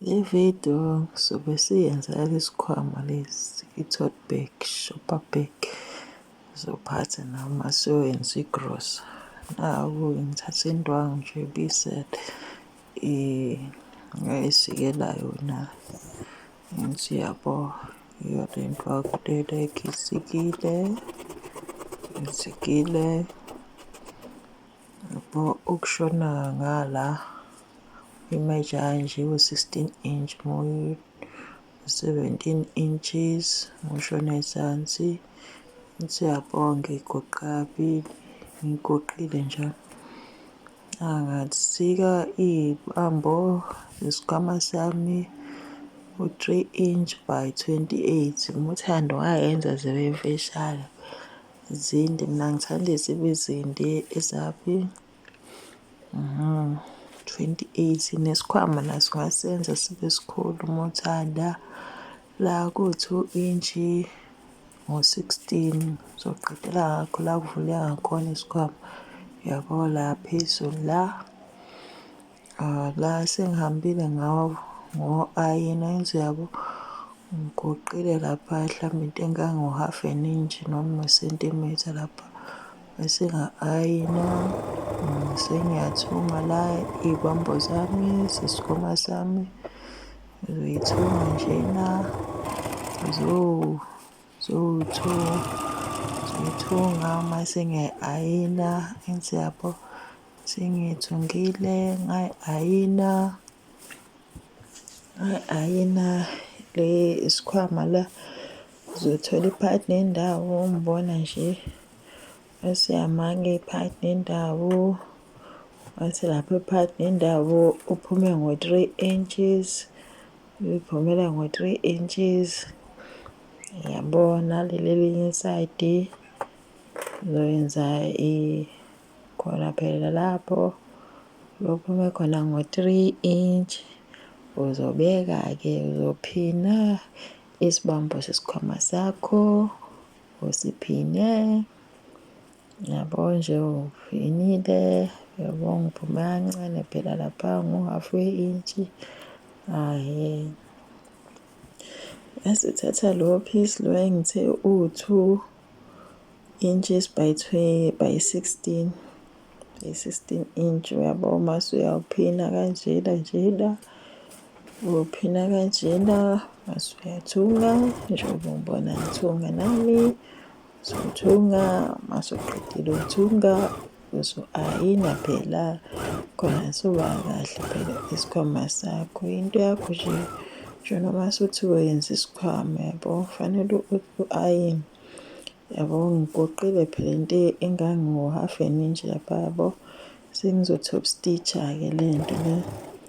Le video sobe siyenza yalesikhwama lesi i-tote bag, shopper bag. Ngizophatha nami uma siyoyenza igrosa. Naku-ke ngithathe indwangu nje ibisele esikelayo na. Ngithi yabo iyo le ndwangu lena ngisikile, ngisikile. Yabo ukushona ngala image kanje u-16 inch mu-17 inches ngoshona ezansi siyabonga igoqabili ngigoqile njalo angasika iy'bambo zesikhwama sami u-3 inch by 28 uthando wayenza zibe mfishane. Zinde, mina ngithanda ezibe zinde ezaphi? Twenty eight, nesikhwama naso ungasenza sibe sikhulu uma uthanda. La ku-two intshi ngo-sixteen uzoqedela ngakho la kuvuleka ngakhona isikhwama, yabo la phezulu la. Ah, la sengihambile ngawo ngo-ayina enze yabo ngigoqile lapha mhlawumbe into engango-half an inch noma isentimitha lapha bese nga-ayina mm, sengiyathunga la iy'bambo zami sesikoma sami ngizoyithunga njena zowuthunga zoyithunga uma sengiyayi-ayina enze yabo Sengiyithungile ngayi-ayina, ngayi-ayina le isikhwama la zothola iphakathi nendawo ngibona nje esiyamanga iphakathi nendawo wathi lapho iphakathi nendawo uphume ngo-three inches liphumela ngo-three inches yabona leli elinye isayidi ngizoyenza i Khona phela lapho lokhume khona ngo 3 inch uzobeka ke uzophina isibambo sesikhwama sakho usiphine yabo nje uphinile yabo ngiphume kancane phela lapha ngo half we inch ahe esithatha lo piece lo engithe u2 Inches by by 16 by 16 inch uyabo uma suyawuphina kanjena njena uphina kanjena mase uyathunga njengoba ngibona ngithunga nami sothunga mase uqedile ukuthunga Yesu ayina phela khona soba kahle phela isikhwama sakho into yakho nje nje noma suthi wenza isikhwama yabo fanele u-ayini yabo ngigoqile phela into engango-half an inch lapha yabo sengizo-top stitch-a-ke le nto le.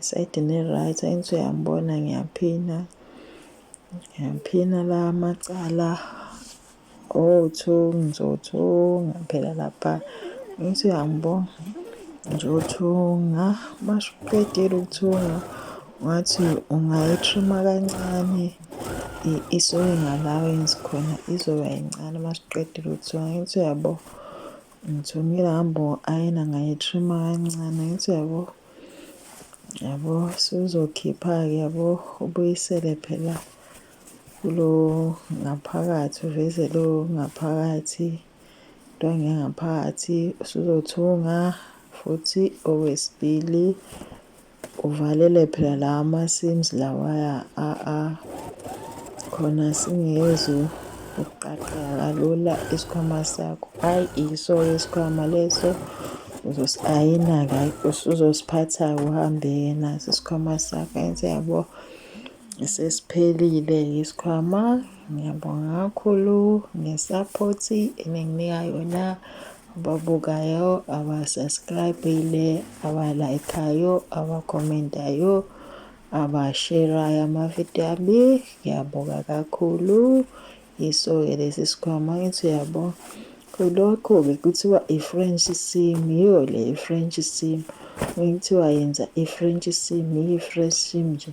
Isayidi ne-right angithi uyangibona ngiyaphina ngiyaphina la macala othu ngizothunga phela lapha ngithi uyangibona ngizothunga masho uqedile ukuthunga ngathi ungayithrima kancane isuke ngalawo engithi khona izoba yincane uma siqedile ukuthunga ngithi uyabo ngithungile ngihamba ayena ngayithrima kancane ngithi uyabo yabo suzokhipha-ke yabo ubuyisele phela kulo ngaphakathi uveze lo ngaphakathi into engengaphakathi usuzothunga futhi okwesibili uvalele phela la ama-sims lawaya a-a khona singezu ukuqaqeka kalula isikhwama sakho ayi iso isikhwama leso ayina-ke usuzosiphatha uhambe yena sisikhwama sakhe enze yabo sesiphelile isikhwama ngiyabonga kakhulu ngesaphothi eninginika yona ababukayo abasubscribile abalayikhayo abakhomentayo abasherayo amavidiyo ami ngiyabonga kakhulu Yiso-ke lesi sikhwama ngithi uyabo kulokho-ke kuthiwa i-french sim yiyo le i-french sim kuthiwa yenza i-french sim yiyi-fresh sim nje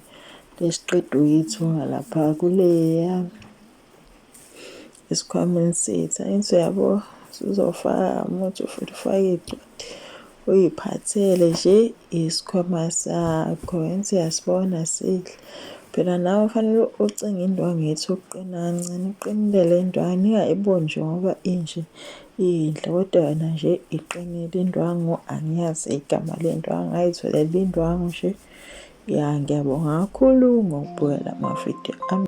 lesiqeda uyithunga lapha kuleya esikhwameni sethu angithi uyabo sizofaka muthi futhi ufake icwadi Uyiphathele nje isikhwama sakho and siyasibona sihle. Phela nawe fanele ucinge indwangu yethu ukuqina kancane uqinile le ndwangu ingayiboni nje ngoba inje iyinhle kodwa yona nje iqinile indwangu angiyazi igama le ndwangu ngayitholele indwangu nje ya ngiyabonga kakhulu ngokubukela amavidiyo ami